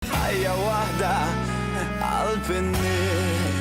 Ħajja waħda qalb in-nies.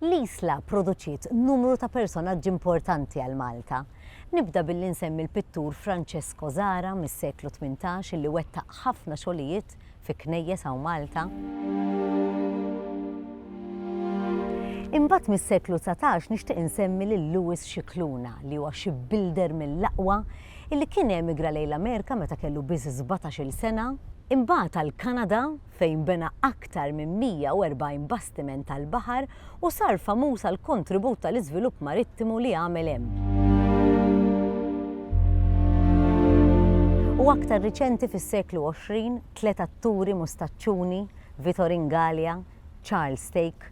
L-Isla pproduċiet numru ta' personaġġi importanti għal Malta. Nibda billi nsemmi l-pittur Francesco Zara mis-seklu tmintax illi wettaq ħafna xogħlijiet fi knejjes hawn Malta. Imbagħad mis-seklu dsatax nixtieq insemmi lil Louis Scicluna li huwa xi builder mill-aqwa illi kien emigra lejn l-Amerika meta kellu biss sbatax-il sena, imbagħad għall-Kanada fejn bena aktar minn 140 bastiment tal-baħar u sar famuż għall-kontribut tal-iżvilupp marittimu li għamel hemm. U aktar riċenti fis-seklu 20, tliet atturi mustaċċuni, Vitor Ingalia, Charles Stake,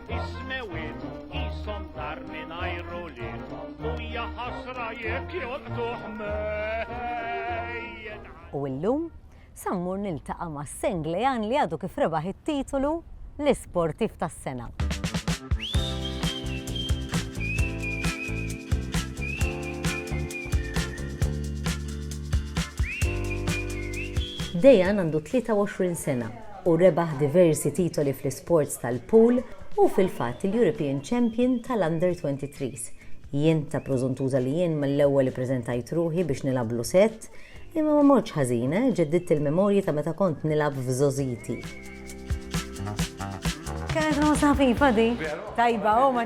Ismewit, isom dar minn ajru li u jaħasra jek jolqtuħ U illum, sammur niltaqa ma' Senglejan li għadu kif rebaħ it-titolu l-isportif tas-sena. Dejan għandu 23 sena u rebaħ diversi titoli fl-isports tal-pool, hu fil-fatt il-European Champion tal-Under 23's. Jien ta' prożuntuża li jien mill-ewwel ippreżentajt ruħi biex nilgħablu sett, imma ma mortx ħażin, eh, ġeddidt il-memorji ta' meta kont nilgħab f'żgħożiti. Kienet rosna ħfifa di. Tajba, oh, ma'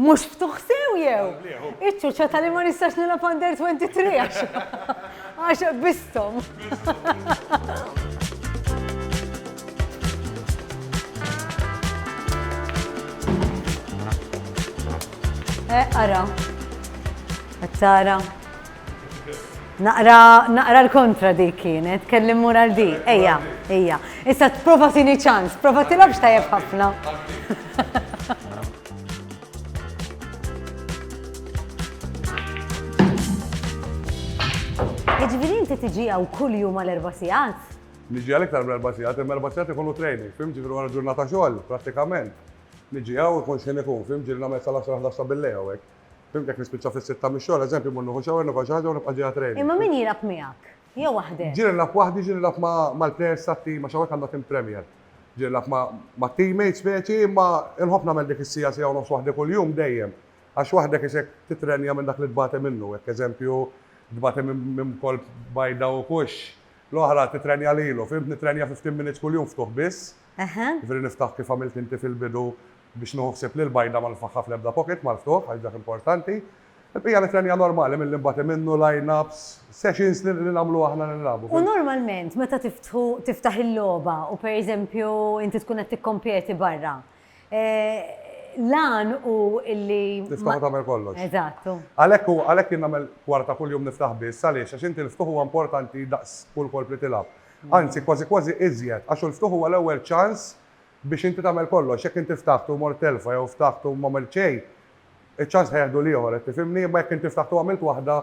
Mhux ftuħ sew jew? Iċ-ċuċċa tali ma nistax nilgħab under 23 għax. Għax bistom. Eh, ara. Għattara. Naqra, naqra l-kontra di kienet, kellim mura l-di, eja, eja. Issa t-prova tini ċans, prova tilabx tajab ħafna. Jiġifieri inti tiġi hawn kull jum għal erba' sigħat? Niġi għal iktar minn erba' sigħat, imma erba' sigħat ikunu training, fim ġifieri wara ġurnata xogħol, prattikament. Niġi hawn ikun x'ħin ikun, fim ġieli nagħmel sal-għaxra ħdasta bil-lejl hawnhekk. Fim jekk nispiċċa fis-sitta mix-xogħol, eżempju, mmur nieħu shower, nifgħal xi ħaġa u nibqa' ġejja training. Imma min jilgħab miegħek? Jew waħdek? Ġieli nilgħab waħdi, ġieli nilgħab mal-plejers tat-tim għax hawnhekk għandna tim Premier. Ġieli nilgħab mat-teammates speċi imma inħobb nagħmel dik is-siegħa, siegħa u nofs waħdi kuljum dejjem għax waħdek isek titrenja minn dak li tbati minnu. Jekk eżempju tbati minn kolp bajda u kux, l-oħra titrenja lilu, fhimt? Nitrenja fifteen minutes kuljum ftuħ biss. Jiġifieri niftaħ kif għamilt inti fil-bidu biex nieħu ħsieb li l-bajda ma nifagħha fl-ebda pocket mal-ftuħ għax dak importanti. Il-bqija l-ikel hija normali milli nbati minnu, line-ups, sessions li nagħmlu aħna li nilagħbu. U normalment meta tiftħu tiftaħ il-logħba u per eżempju inti tkun qed tikkompeti barra, l-għan hu illi. Tiftaħ u tagħmel kollox. Eżatt. Għalhekk hu, għalhekk jien nagħmel kwarta kuljum niftaħ biss, għaliex? Għax inti l-ftuħ huwa importanti daqs kull kolp li tilgħab. Anzi kważi kważi iżjed, għax hu l-ftuħ huwa l-ewwel ċans biex inti tagħmel kollox. Jekk inti ftaħt u mort telfa jew ftaħt u m'għamilt xejn, iċ-ċans ħa jieħdu l-ieħor, qed tifhimni? Imma jekk inti ftaħt u għamilt waħda,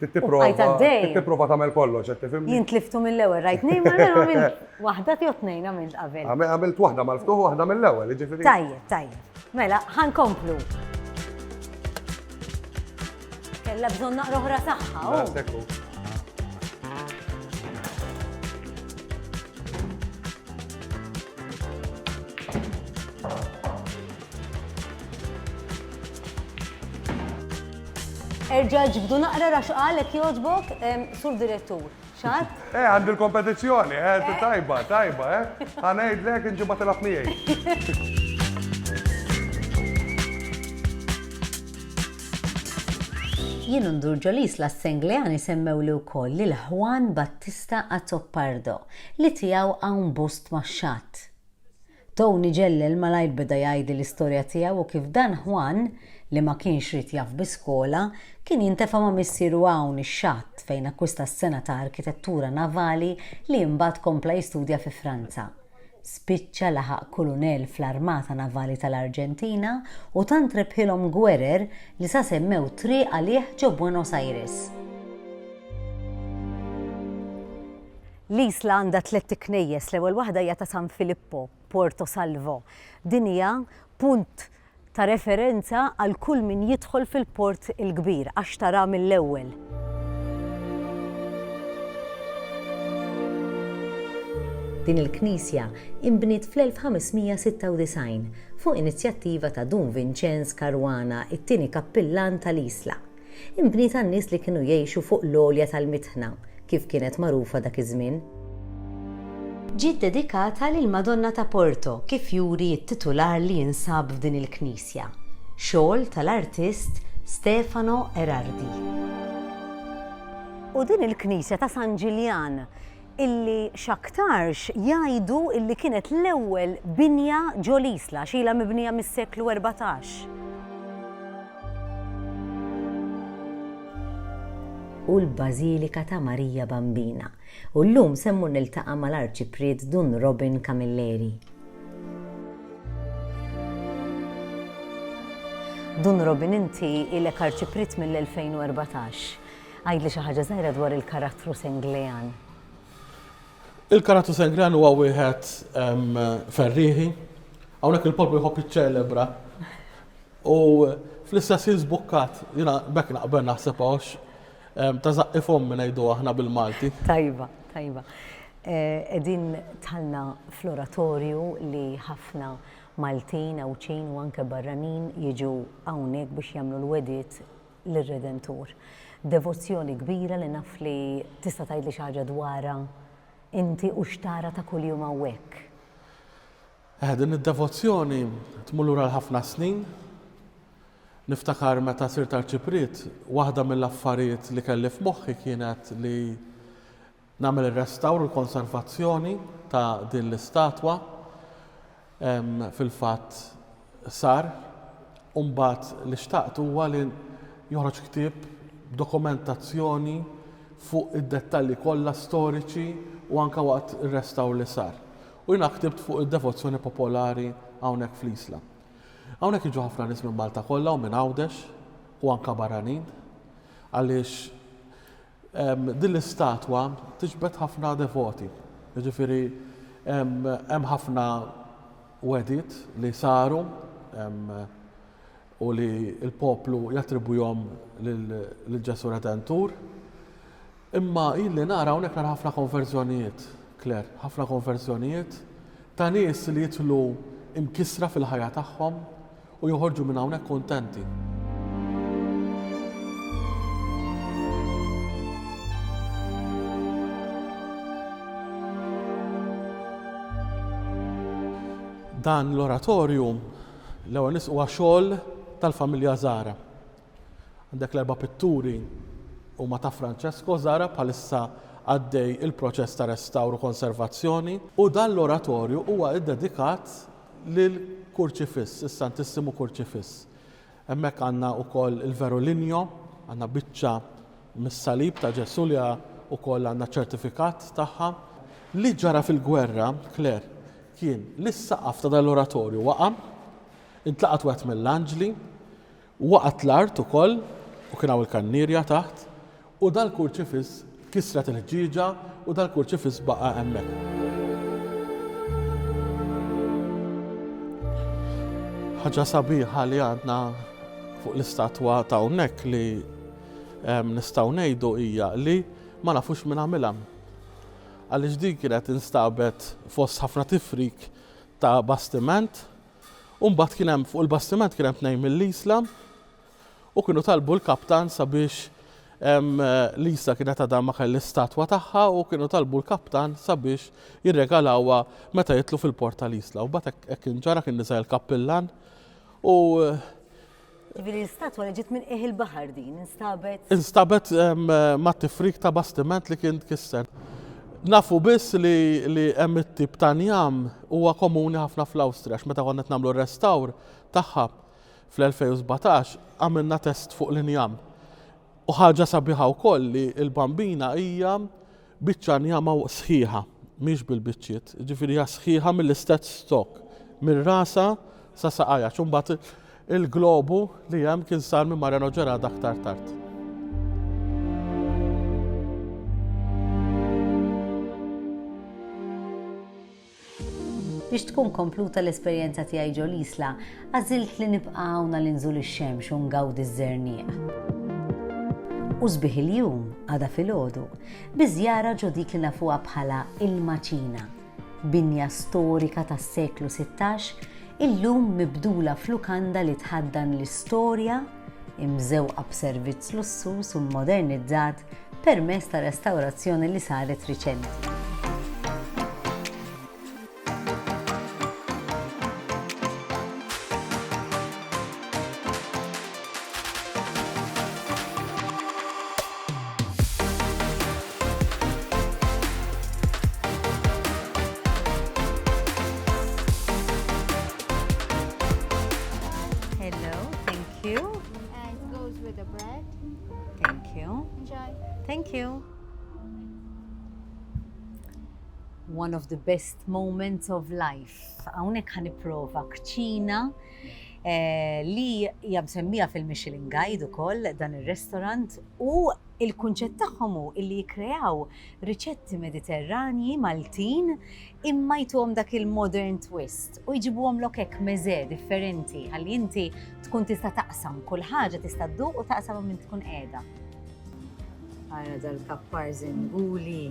trid tipprova, trid tipprova tagħmel kollox, qed tifhimni? Jien tliftu mill-ewwel, rajt tnejn mela mela għamilt waħda jew tnejn għamilt qabel. Għamilt waħda mal-ftuħ u waħda mill-ewwel, jiġifieri. Tajjeb, tajjeb. Mela, ħa nkomplu. Kella bżonn naqra oħra tagħha. Oh. Erġa ġbdu naqra raxqalek joġbok sur direttur. X'għadd? Eh, għandi l-kompetizzjoni, eh, eh. tajba, tajba, eh. Ħanejdlek inġibha tilab miegħi. Jien ndur ġolis la Senglejani semmew li wkoll lil Juan Battista Azzopardo li tiegħu hawn bust max-xatt. Tony Ġellel malajr beda jgħidli l-istorja tiegħu u kif dan Juan, li ma kienx ried jaf bi skola, kien jintefa' ma' missieru hawn ix-xatt fejn akkwista s-sengħa ta' arkitettura navali li imbagħad kompla jistudja fi Franza. Spiċċa laħaq kulunell fl-Armata Navali tal-Arġentina u tant rebħilhom gwerer li sa semmew triq għalih ġo Buenos Aires. L-isla għandha tlett iknejjes, l-ewwel waħda hija ta' San Filippo, Puerto Salvo. Din hija punt ta' referenza għal kull min jidħol fil-Port il-Kbir għax taraha mill-ewwel. Din il-knisja inbniet fl-1596 fuq inizjattiva ta' Dun Vinċenz Caruana, it-tieni kappillan tal-isla. Inbniet għan-nies li kienu jgħixu fuq l-għolja tal-Mitħna, kif kienet magħrufa dak iż-żmien. Ġiet dedikata lill-Madonna ta' Porto, kif juri t-titular li jinsab f'din il-knisja, xogħol tal-artist Stefano Erardi. U din il-knisja ta' San Ġiljan? illi x'aktarx jgħidu illi kienet l-ewwel binja ġo l-Isla, x'ilha mibnija mis-seklu erbatax. u l-Bażilika ta' Marija Bambina, u llum se mmur niltaqa' mal-Arċipriet Dun Robin Camilleri. Dun Robin inti ilek Arċipriet mill-2014. Għidli xi ħaġa żgħira dwar il-karattru Senglean. Il-karattru Senglean huwa wieħed ferrieħi, hawnhekk il-poplu jħobb iċċelebra. U fl-istess jien żbukkat, jiena bekk naqbel naħseb għax ta' zaqqi fom minn ngħidu aħna bil-Malti. Tajba, tajba. Eh, edin talna floratorju li ħafna Maltin, Awċin u anke barranin jiġu hawnhekk biex jagħmlu l-wedit lir-Redentur. Devozzjoni kbira li naf li tista' tgħidli xi ħaġa dwarha inti u x'tara ta' kuljum hawnhekk. Eh, din id-devozzjoni tmur lura l-ħafna snin. Niftakar meta sirt arċipriet, waħda mill-affarijiet li kelli f'moħħi kienet li Nagħmel ir-restawr u l-konservazzjoni ta' din l-istatwa. Fil-fatt sar u mbagħad li xtaqt huwa li joħroġ ktieb b'dokumentazzjoni fuq id-dettalji kollha storiċi u anke waqt ir-restawr li sar. U jiena ktibt fuq id-devozzjoni popolari hawnhekk fl-Isla. Hawnhekk jiġu ħafna nies minn Malta kollha u minn Għawdex u anke barranin għaliex Din l-istatwa tiġbed ħafna devoti, jiġifieri hemm ħafna wegħdiet li saru u li l-poplu jattribwihom lil Ġesù Redentur. Imma jien li nara hawnhekk nara ħafna konverżjonijiet, Claire, ħafna konverżjonijiet ta' nies li jidħlu mkissra fil-ħajja tagħhom u joħorġu minn hawnhekk kuntenti. Dan l-oratorju l-ewwel nisqu għax-xogħol tal-familja Zahra. Għandek l-erba' pitturi huma ta' Francesco Zara, bħalissa għaddej il-proċess ta' restawr u konservazzjoni. U dan l-oratorju huwa ddedikat lil Kurċifiss, is-Santissimu Kurċifiss. Hemmhekk għandna wkoll il-Vero Linjo, għandna biċċa mis-salib ta' Ġesù li wkoll għandna ċ-ċertifikat tagħha. Li ġara fil-gwerra, Claire, kien li s-saqaf ta' dan l-oratorju waqa', intlaqat wieħed mill-anġli, Waqgħet l-art ukoll, u kien hawn il-kannierja taħt, u dal-kurċifiss, kisret il-ħġieġa, u dal-kurċifiss baqa' hemmhekk. Ħaġa sabiħa li għandna fuq l-istatwa ta' hawnhekk li nistgħu ngħidu hija li ma nafux min għamilha. Għaliex din kienet instabet fost ħafna tifrik ta' bastiment U mbagħad kien hemm fuq il-bastiment kien hemm tnejn mill-Isla u kienu talbu l-kaptan sabiex l-Isla kienet għadha ma kelli statwa tagħha u kienu talbu l-kaptan sabiex jirregalawha meta jitlu fil-port tal-Isla. U mbagħad hekk kien ġara kien niżel il-kappillan u Ġifieri l-istatwa li ġiet minn qiegħ il-baħar din instabet? Instabet mat-tifrik ta' bastiment li kien tkisser. Nafu biss li hemm it-tip ta' njam huwa komuni ħafna fl-Awstrija meta konna qed nagħmlu restawr tagħha fl-2017 għamilna test fuq l-injam. U ħaġa sabiħa wkoll li l-bambina hija Biċċa njama sħiħa, mhix bil-biċċiet, jiġifieri hija sħiħa mill-istess stock, minn rasha sa saqajha, x'mbagħad il-globu li hemm kien sar minn Mariano Gerada aktar tard. Biex tkun kompluta l-esperjenza tiegħi ġo l-Isla, għażilt li nibqa' hawn għal inżul ix-xemx u ngawdi ż-żerniq u sbieħ il-jum, għada filgħodu, bi żjara ġo dik li nafuha bħala Il-Maċina, binja storika tas-seklu sittax illum mibdula f'lukanda li tħaddan l-istorja, imżewqa b'servizz lussuż u mmodernizzat permezz ta' restawrazzjoni li saret riċenti. one of the best moments of life. Hawnhekk ħan nipprova kċina li hija msemmija fil-Michelin Guide ukoll dan ir-restaurant u il-kunċett tagħhom hu li jikkreaw riċetti Mediterranji Maltin imma jtuhom dak il-modern twist u jġibuhom lok hekk meże differenti ħalli inti tkun tista' taqsam kull ħaġa tista' dduq u taqsam minn tkun qiegħda. Ara dal-kappar żinguli.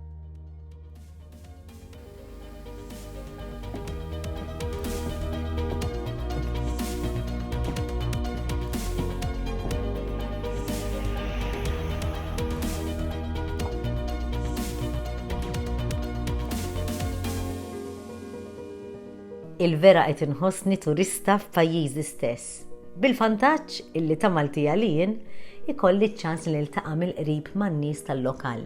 il-vera qed inħossni turista f'pajjiżi stess. Bil-vantaġġ illi ta' Maltija li jien ikolli ċ-ċans li niltaqa' mill-qrib man-nies tal-lokal